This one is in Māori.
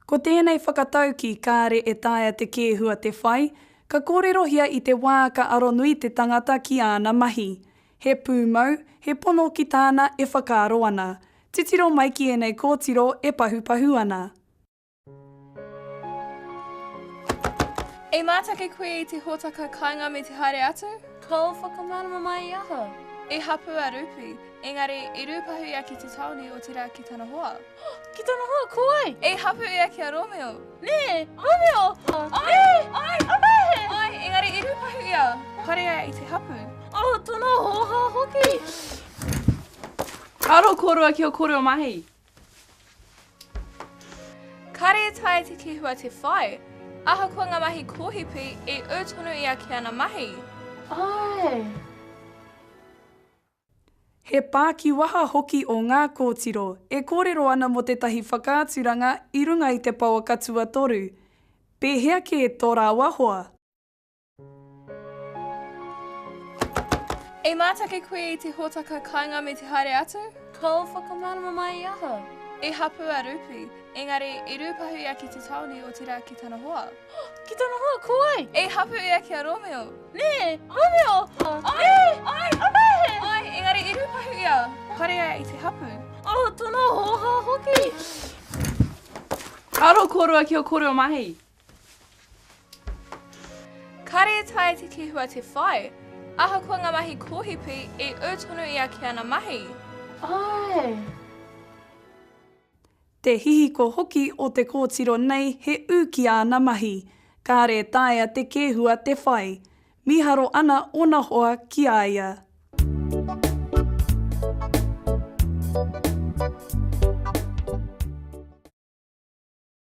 Ko tēnei whakatauki kāre e taea te kēhua te whai, ka kōrerohia i te wā ka aro nui te tangata ki āna mahi. He pūmau, he pono ki tāna e whakaaro ana. Titiro mai ki ēnei kōtiro e pahupahu ana. E mātake koe i te hōtaka kāinga me te haere atu? Kāo whakamārama mai i aha? I hapū a Rupi, engari i rūpahu ia ki te tāone o Te Rā ki tana hoa. Ki tana hoa, ko wai? I hapū ia ki a Rōmeo. Nē! Rōmeo! Ai! Ai! Ai! Engari i rūpahu ia. Parea i te hapū. Oh, tana hōhā hoki! Karo kōrua ki o kōrua mahi. Kare tae te kihua te whai. Ahakoa nga mahi kohipi, i u tonu ia ki ana mahi. Ae! He pākiwaha hoki o ngā kōtiro e kōrero ana mō tētahi whakaaturanga i runga i te pouaka tuatoru. Pēhea kē tō rāua hoa? E mātake koe i te hōtaka kāinga me te haere atu? Kau whakamārama mai i aha? I hapū a Rupi, engari i rūpahu ia ki te tāone o Te Rā ki tana hoa. Ki tana hoa? Ko wai? I hapū ia ki a Rōmeo. Nē! Rōmeo! Nē! Āe, engari i rūpahu ia. Parea i te hapū. Oh, tana hōhā hoki! Aro kōrua ki ō kōrua mahi! Kare tae te kihua te whai. Ahakoa nga mahi kohipi, i u tonu ia ki ana mahi. Ae! Te hihiko hoki o te kōtiro nei he ū ki āna mahi. Kāre taea te kēhua te whai. Mīharo ana ōna hoa ki a ia.